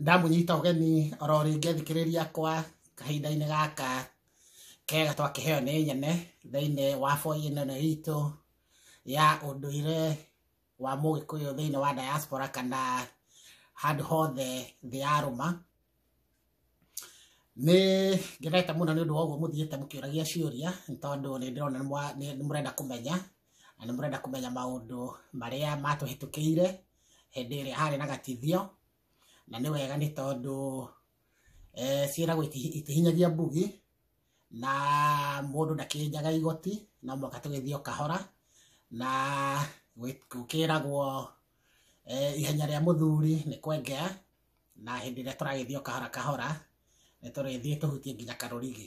ndamunyita ũgeni oro rĩngĩ athikĩrĩria akwa kahinda-inĩ gaka kega twakĩheo nĩ nyene thĩinĩ wa boi ĩno ĩno itũ ya ũndũire wa mũgĩkũyũ thĩinĩ wa diaspora kana handũ hothe thĩ ya rũma nĩ ngenete mũno nĩ ũndũ wa ũguo mũthiĩte mũkĩũragia ciũria nĩ tondũ nĩ ndĩrona nĩ mwa- nĩ- nĩ mũrenda kũmenya na nĩ mũrenda kũmenya maũndũ marĩa matũhĩtũkĩire hĩndĩ ĩrĩa harĩ na gatithio na nĩ wega nĩ tondũ eh, ciĩragwo iti- itihinyagia mbugi na mũndũ ndakĩnjaga igoti no mũhaka tũgĩthiĩ o kahora na gwĩ- gũkĩragwo eh, ihenya rĩa mũthuri nĩ kwengea na hĩndĩ ĩrĩa tũragĩthiĩ o kahora kahora nĩ tũrĩthiĩ tũhutie nginya karũrigi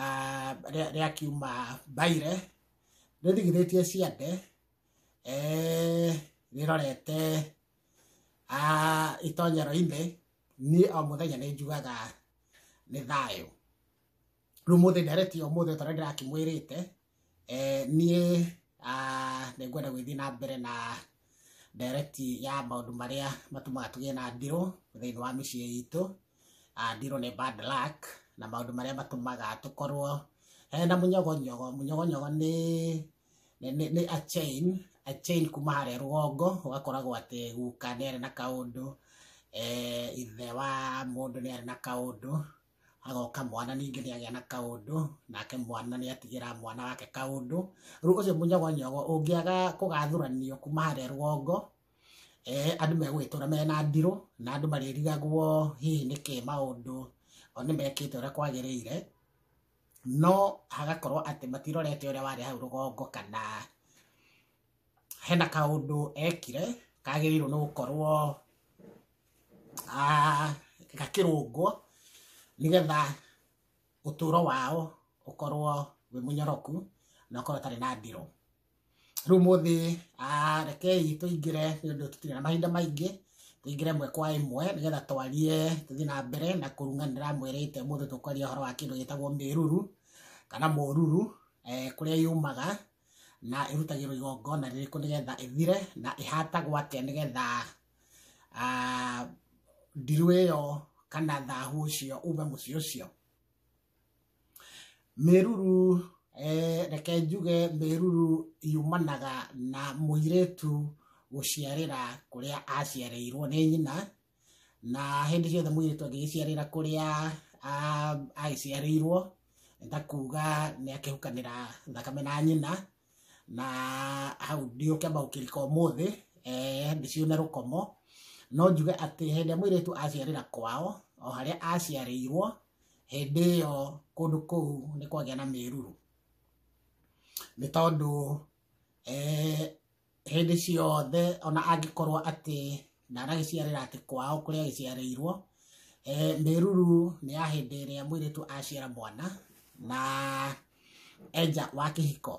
ah, rĩa rĩa kiuma mbaire nĩ ndigithĩtie ciande eh, rĩrorete ah, itonyero-inĩ niĩ o mũthenya nĩ njugaga nĩ thayũ rĩu mũthĩ nderetie ũmũthĩ tondũ ndĩrakĩmwĩrĩte eh, niĩ ah, nĩ ngwenda gwĩthiĩ na mbere na direct ya maũndũ marĩa matũmaga tũgĩe na ndirũ thĩinĩ wa mĩciĩ itũ Ah, ndirũ nĩ bad luck na maũndũ marĩa matũmaga tũkorwo eh, na mũnyogonyogo mũnyogonyogo nĩ nĩ nĩ- nĩ a chain a chain kuma harĩa rũgongo ũgakoragwo atĩ guka nĩ arĩ na kaũndũ eh, ithe wa mũndũ nĩ arĩ na kaũndũ agoka mwana ningĩ nĩ agĩa na kaũndũ nake mwana nĩ atigĩra mwana wake kaũndũ rĩu ũcio mũnyogonyogo ũngĩaga kũgathuranio kuma harĩa rwongo eh, andũ megũgĩtũra mena ndirũ na andũ marĩrigagwo hihi nĩkĩ maũndũ o nĩ mekĩte ũrĩa kwagĩrĩire no hagakorwo atĩ matirorete ũrĩa warĩ hau rũgongo kana hena kaũndũ ekire kagĩrĩirwo nĩ gũkorwo ah, gakĩrũngwo nĩgetha ũtũũro wao ũkorwo wĩ mũnyoroku na ũkorwo ũtarĩ na ndĩro rĩu mũthĩ ah, rekei tũingĩre nĩ ũndũ tũtirĩ na mahinda maingĩ tũingĩre ĩmwe kwa ĩmwe nĩgetha twarie tũthiĩ na mbere na kũrunganĩra mwĩrĩte mũthĩ tũkwaria ũhoro wa kĩndũ gĩtagwo mĩruru kana mũruru eh, kũrĩa yumaga na ĩrutagĩrwo igongona rĩrĩkũ nĩgetha ĩthire na ĩhatagwo atĩa nĩgetha ah, ndirũ ĩyo kana thahu ũcio ume mũciĩ ũcio mĩruru eh, reke njuge mĩruru yumanaga na mũirĩtu gũciarĩra kũrĩa aciarĩirwo nĩ nyina na hĩndĩ ciothe mũirĩtu angĩgĩciarĩra kũrĩa ah, agĩciarĩirwo nĩ ta kuga nĩ akĩhukanĩra thakame na nyina na hau ndiũkĩamba gũkĩrika ũmũthĩ eh, ndĩcione rũkomo no njuge atĩ hĩndĩ ĩrĩa mũirĩtu aciarĩra kwao o harĩa aciarĩirwo hĩndĩ ĩyo kũndũ kũu nĩ kwagĩa na mĩruru nĩ tondũ eh, hĩndĩ ciothe ona angĩkorwo atĩ ndaragĩciarĩra atĩ kwao kũrĩa agĩciarĩirwo eh, mĩruru nĩ ya hĩndĩ ĩrĩa mwĩrĩtu aciara mwana na enja wa kĩhiko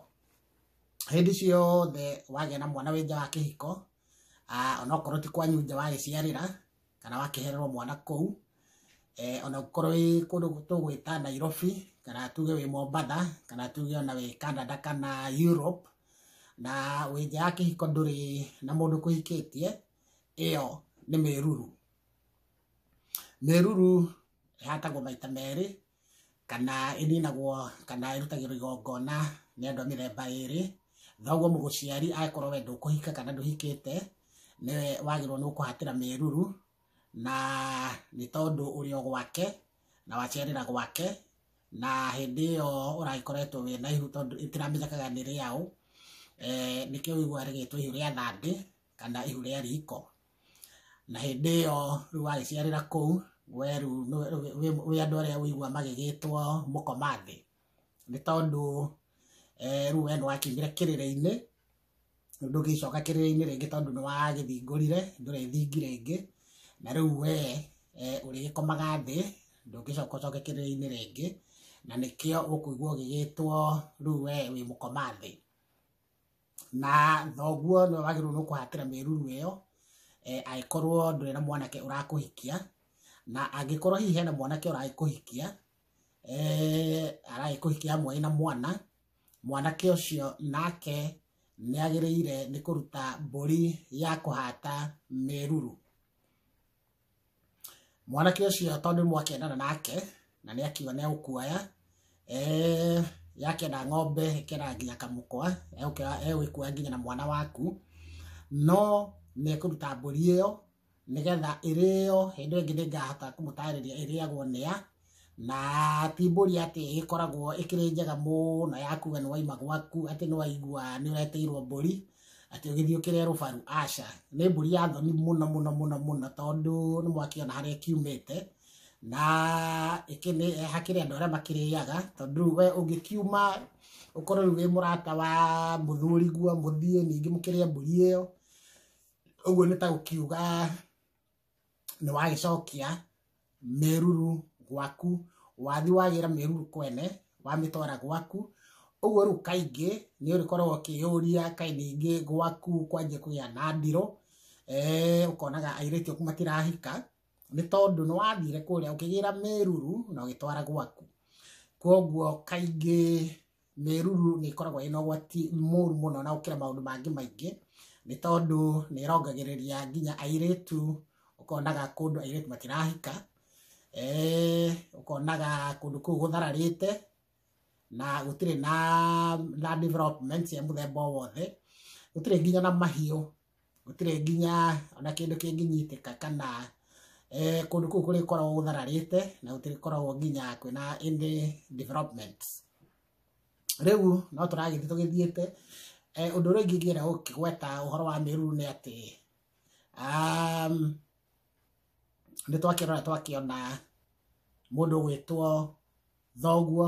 hĩndĩ ciothe wagĩa na mwana wĩ nja wa kĩhiko ah, onokorwo ti kwanyu nja wagĩciarĩra kana wakĩhererwo mwana kũu eh, ona ũkorwo wĩ kũndũ tũgwĩta nairobi kana tuge wĩ mombatha kana tuge ona wĩ canada kana europe na wĩ nja ya kĩhiko ndũrĩ na mũndũ kũhikĩtie ĩyo nĩ mĩruru mĩruru ĩhatagwo maita merĩ kana ĩninagwo kana ĩrutagĩrwo igongona nĩ andũ a mĩthemba ĩrĩ thoguo mũgũciari akorwo we ndũkũhika kana ndũhikĩte nĩwe wagĩrĩirwo nĩ gũkũhatĩra mĩruru na nĩ tondũ ũrĩ o gwake na waciarĩra gwake na hĩndĩ ĩyo ũragĩkoretwo wĩ na ihu tondũ ĩtiramenyekaga nĩ rĩaũ eh, nĩkĩo ũiguaga rĩgĩtwo ihu rĩa thandĩ kana ihu rĩa riko na hĩndĩ ĩyo rĩu wagĩciarĩra kũu we rĩu nĩ- wĩ- wĩ- wĩ andũ arĩa ũigua magĩgĩtwo mũkoma thĩ nĩ tondũ eh, rĩu we nĩwakinyire kĩrĩrĩ-inĩ ndũgĩcoka kĩrĩrĩ-inĩ rĩngĩ tondũ nĩwagĩthingũrire ndũrĩthingi rĩngĩ na rĩu we eh, ũrĩgĩkomaga thĩ ndũngĩcoka ũcoke kĩrĩrĩ-inĩ rĩngĩ na nĩkĩo ũkũigua ũgĩgĩtwo rĩu we wĩ mũkoma thĩ na thoguo nĩ wagĩrĩirwo nĩ kũhatĩra mĩruru ĩyo eh, angĩkorwo ndũrĩ na mwanake ũrakũhikia na angĩkorwo hihi hena mwanake ũragĩkũhikia eh, aragĩkũhikia amwe na mwana mwanake ũcio nake nĩ agĩrĩire nĩ kũruta mbũri ya kũhata mĩruru mwanake ũcio tondũ nĩ mwakendana nake na nĩ akiuga nĩ egũkuoya eh, yakenda ng'ombe ĩkenda nginya kamũkwa egũkĩra- egũgĩkuoya nginya na mwana waku no nĩ ekũruta mbũri ĩyo nĩgetha ĩrĩo hĩndĩ ĩyo ĩngĩ nĩngahota kũmũtarĩria ĩrĩagwo nĩa na ti mbũri atĩ ĩkoragwo ĩkĩrĩ njega mũno ya kuga nĩ waima gwaku atĩ nĩ waigua nĩ ũreteirwo mbũri atĩ ũgĩthiĩ ũkĩrĩa rũbaru aca nĩ mbũri ya thoni mũno mũno mũno mũno tondũ nĩ mwakĩona harĩa ĩkiumĩte na ĩkĩ nĩ hakĩrĩ andũ arĩa makĩrĩaga tondũ rĩu we ũngĩkiuma ũkorwo rĩu wĩ mũrata wa mũthuri guo mũthiĩ ningĩ mũkĩrĩe mbũri ĩyo ũguo nĩ ta gũkiuga nĩ wagĩcokia mĩruru gwaku wathi wagĩra mĩruru kwene wamĩtwara gwaku ũguo rĩu kaingĩ nĩ ũrĩkoragwo ũkĩyũria kaĩ ningĩ gwaku kwanjia kũgĩa na ndirũ eh, ũkonaga airĩtu aku matirahika nĩ tondũ nĩ wathire kũrĩa ũkĩgĩra mĩruru na ũgĩtwara gwaku kwoguo kaingĩ mĩruru nĩ ĩkoragwo ĩna ũgwati mũru mũno na gũkĩra maũndũ mangĩ maingĩ nĩ tondũ nĩ ĩrongagĩrĩria nginya airĩtu ũkonaga kũndũ airĩtu matirahika eh, ũkonaga kũndũ kũu gũthararĩte na gũtirĩ na, na development cia mũthemba o wothe gũtirĩ nginya na mahiũ gũtirĩ nginya ona kĩndũ kĩngĩnyitĩka kana eh, kũndũ kũu kũrĩkoragwo gũthararĩte na gũtirĩkoragwo nginya kwĩna any development rĩu no tũragĩthiĩ tũgĩthiĩte eh, ũndũ ũrĩa ũngĩ ingĩenda gũkĩgweta ũhoro wa mĩruru nĩ atĩ um, nĩ twakĩrora twakĩona mũndũ gwĩtwo thoguo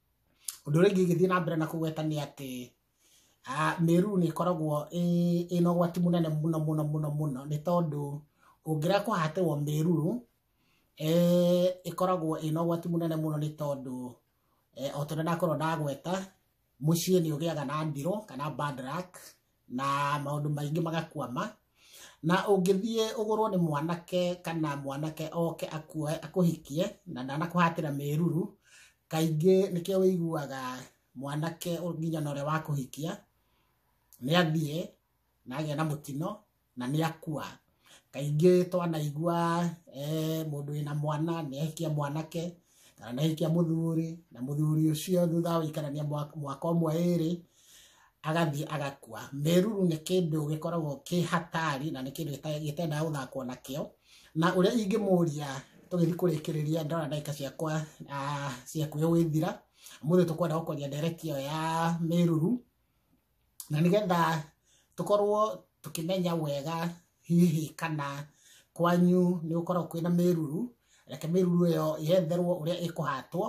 Ũndũ ũrĩa ũngĩ ũgĩthiĩ na mbere na kũgweta nĩ atĩ ah, mĩruru nĩ ĩkoragwo ĩ- ĩna ũgwati mũnene mũno mũno mũno mũno nĩ tondũ ũngĩrega kũhatĩrwo mĩruru eh, ĩkoragwo ĩna ũgwati mũnene mũno nĩ tondũ eh, o tondũ ndakorwo ndagweta mũciĩ nĩ ũgĩaga na ndirũ kana bad luck na maũndũ maingĩ magakwama na ũngĩthiĩ ũgũrwo nĩ mwanake kana mwanake oke akuoe akũhikie na ndanakũhatĩra mĩruru kaingĩ nĩkĩo wĩiguaga mwanake ũ- nginya na ũrĩa wakũhikia nĩ athiĩ na agĩa na mũtino na nĩ akua Kaingĩ twanaigua mũndũ wĩna mwana nĩ ahikia mwanake kana nĩ ahikia mũthuri na mũthuri ũcio thutha wa gũikarania mwaka ũmwe ĩrĩ agathiĩ agakua. Mĩruru nĩ kĩndũ gĩkoragwo kĩ hatari na nĩ kĩndũ gĩtendaga gũthakwo nakĩo, na ũrĩa ingĩmũria tũgĩthiĩ kũrĩkĩrĩria ndona ndagĩka ciakwa cia kwĩyũithĩra, ũmũthĩ tũkwenda gũkũria ndereti ĩyo ya mĩruru, na nĩgetha tũkorwo tũkĩmenya wega hihi kana kwanyu nĩ gũkoragwo kwĩna mĩruru reke mĩruru ĩyo yetherwo ũrĩa ĩkũhatwo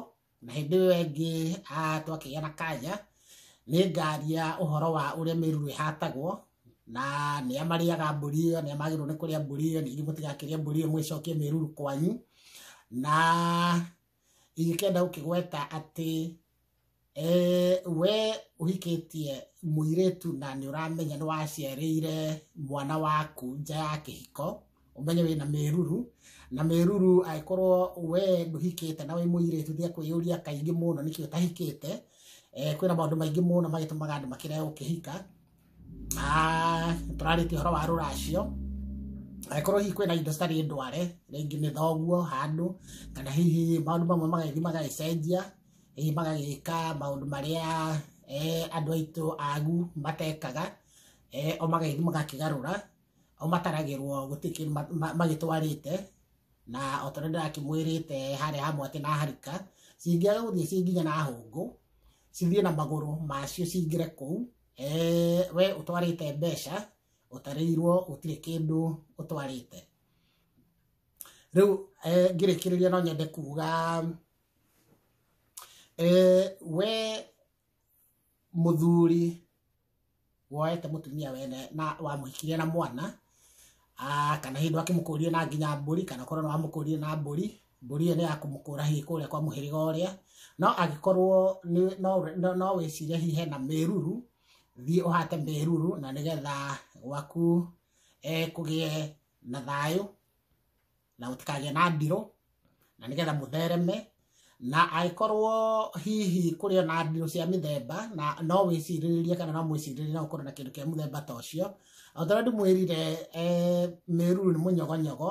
na hĩndĩ ĩyo ĩngĩ ah, twakĩgĩa na kanya nĩ ngaria ũhoro wa ũrĩa mĩruru ĩhatagwo na nĩ amarĩaga mbũri ĩyo nĩ amagĩrĩirwo nĩ kũrĩa mbũri ĩyo ningĩ mũtigakĩrĩa mbũri ĩyo mwĩcokie mĩruru kwanyu na ingĩkenda gũkĩgweta atĩ Eh, we ũhikĩtie mũirĩtu na nĩ ũramenya nĩ waciarĩire mwana waku nja ya kĩhiko ũmenye wĩ na mĩruru na mĩruru angĩkorwo we ndũhikĩte na wĩ mũirĩtu nĩ akwĩyũria kaingĩ mũno nĩkĩ ũtahikĩte eh, kwĩna maũndũ maingĩ mũno magĩtũmaga andũ makĩrega gũkĩhika Ah, tũrarĩtie ũhoro wa rũracio angĩkorwo hihi kwĩna indo citarĩ ndware rĩngĩ nĩ thoguo handũ kana hihi maũndũ mamwe magagĩthiĩ magagĩcenjia hihi magagĩka maũndũ marĩa eh, andũ aitũ agu matekaga eh, o magagĩthiĩ magakĩgarũra o mataragĩrwo gũtirĩ kĩndũ ma- ma- magĩtwarĩte na o tondũ ndĩrakĩmwĩrĩte harĩa hamwe atĩ na harika cingĩaga gũthiĩ ciĩ nginya na hũngũ cithiĩ na magũrũ macio cingĩre kũu eh, we utwarite mbeca utarirwo utire kindu utwarite riu eh, ngirikiriria no nyende kuga eh, we muthuri woete mutumia wene na wamuhikirie na mwana Ah, kana hindu akimukũrie na nginya mbũri kana korwo nĩ wamũkũrie na mbũri mbũri ĩyo nĩ ya kũmũkũra hihi kũrĩa kwa mũhĩrĩga ũrĩa no agĩkorwo nĩ- no- no- no wĩcire hihi hena mĩruru thiĩ ũhate mĩruru na nĩgetha gwaku eh, kũgĩe na thayũ na gũtikagĩe na ndirũ na nĩgetha mũthereme na angĩkorwo hihi kũrĩ o na ndirũ cia mĩthemba na no wĩcirĩrĩrie kana no mwĩcirĩrĩrie no ũkorwo na kĩndũ kĩa mũthemba ta ũcio o ta ũrĩa ndĩmwĩrire eh, mĩruru nĩ mũnyogonyogo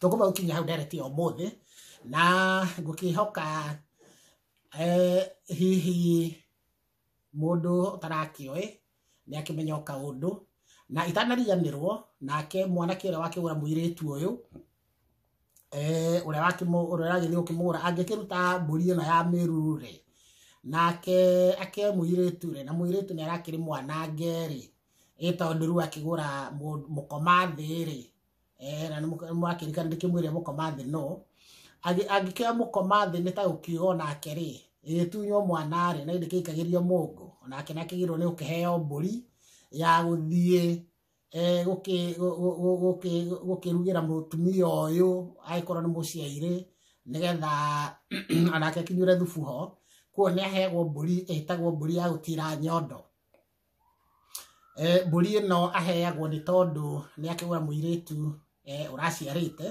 tũkũma gũkinya hau ndereti ya ũmũthĩ na ngũkĩhoka eh, hihi mũndũ ũtarakĩoĩ nĩ akĩmenya o kaũndũ na itanariganĩrwo nake mwanake ũrĩa wakĩgũra mũirĩtu ũyũ eh, ũrĩa wakĩmũ- ũrĩa ũragĩthiĩ gũkĩmũgũra angĩkĩruta mbũri ĩno ya mĩruru rĩ nake ake mũirĩtu rĩ na mũirĩtu nĩ arakĩrĩ mwanange rĩ ĩ tondũ rĩu akĩgũra mũ- mũkoma thĩ rĩ eh na nĩmũrakĩrikana ndĩkĩmwĩre mũkoma thĩ no Agĩ- angĩkĩoya mũkoma thĩ nĩ ta gũkiuga o nake rĩ ĩgĩtunywo mwana rĩ na ĩndĩ kĩikagĩrio mũngũ onake nĩ akĩgĩrwo nĩ gũkĩheo mbũri ya gũthiĩ eh, gũkĩ- gũ- gũ- gũ- gũkĩ- gũkĩrugĩra mũtumia ũyũ agĩkorwo nĩ mũciairĩ nĩgetha onake akinyure thubu ho kuo nĩ aheagwo mbũri ĩtagwo mbũri ya gũtira nyondo Eh, mbũri ĩno aheagwo nĩ tondũ nĩ akĩgũra mũirĩtu eh, ũraciarĩte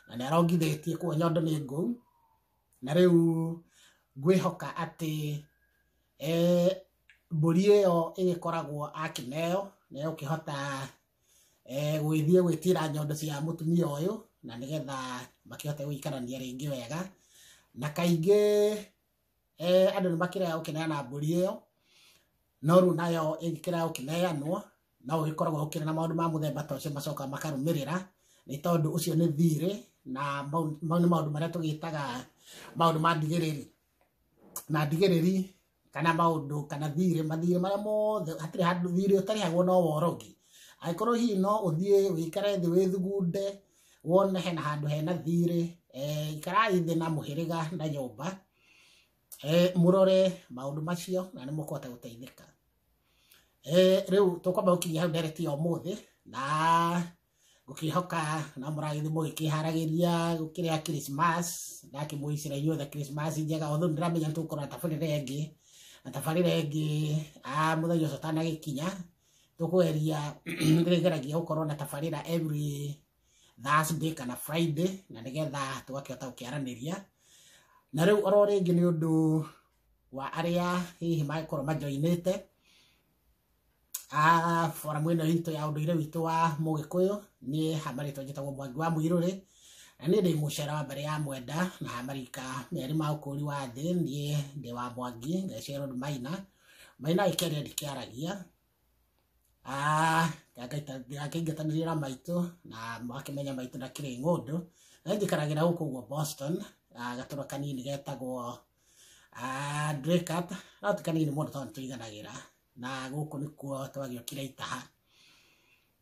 na nĩ arongithĩtie kuo nyondo nĩ ngũu na rĩu ngwĩhoka atĩ eh, mbũri ĩyo ĩgĩkoragwo akĩneo nĩ egũkĩhota eh, gũgĩthiĩ gwĩtira nyondo cia mũtumia ũyũ na nĩgetha makĩhote gũikarania rĩngĩ wega na kaingĩ eh, andũ nĩ makĩrega gũkĩneana mbũri ĩyo no rĩu nayo ĩngĩkĩrega gũkĩneanwo no gũgĩkoragwo gũkĩrĩ na maũndũ ma mũthemba ta ũcio macokaga makarũmĩrĩra nĩ tondũ ũcio nĩ thirĩ na mau mau nĩ maũndũ marĩa tũgĩtaga maũndũ ma ndigĩrĩri na ndigĩrĩri kana maũndũ kana thirĩ mathirĩ marĩa mothe hatirĩ handũ thirĩ ũtarĩhagwo no worogi angĩkorwo hihi no ũthiĩ wĩikare thĩ wĩthugunde wone hena handũ hena thiirĩ eh, ikarai thĩ na mũhĩrĩga na nyũmba eh, mũrore maũndũ macio na nĩ mũkũhota gũteithĩka eh, rĩu tũkwamba gũkinyia hau ndereti ya ũmũthĩ na ngũkĩhoka na mũragĩthi mũgĩkĩharagĩria gũkĩrĩa Christmas ndakĩmũicĩra inyuothe Christmas njega othe ndĩramenya nĩ tũgũkorwo na tabarĩra ĩngĩ na tabarĩra ĩngĩ ah, mũthenya ũcio ũtanagĩkinya tũkũgeria rĩgeragia gũkorwo na tabarĩra every Thursday kana Friday na nĩgetha tũgakĩhota gũkĩaranĩria na rĩu oro rĩngĩ nĩ ũndũ wa arĩa hihi magĩkorwo majoinĩte ah, foramu ĩno itũ ya ũndũire witũ wa mũgĩkũyũ niĩ hamarĩtwo njĩtagwo mwangi wa mũirũrĩ na niĩ ndĩ mũcera wa mbere ya mwenda na hamarika merĩ ma ũkũri wa thĩ niĩ ndĩ wa mwangi ngecero nĩ maina maina ikere ndikiaragia ngakĩingatanĩria na maitũ na makĩmenya maitũ na kĩrĩ ng'ũndũ na njikaragira gũkũ ũguo boston ah, gatũra kanini getagwo ah, Draycott. no ti kanini mũno tondũ nĩtũiganagĩra na gũkũ nĩkuo twagĩũkire itaha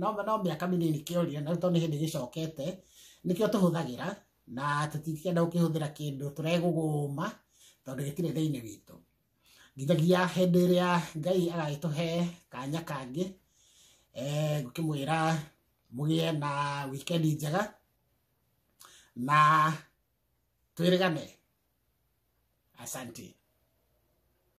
no no mĩaka mĩnini kĩorire na rĩu tondũ nĩ hĩndĩ gĩcokete nĩkĩo tũhũthagĩra na tũtikenda gũkĩhũthĩra kĩndũ tũregũgũma tondũ gĩtirĩ thĩinĩ witũ nginyagia hĩndĩ ĩrĩa ngai agagĩtũhe kanya kangĩ eh, ngũkĩmwĩra mũgĩe na wikendi njega na twĩrĩgane asanti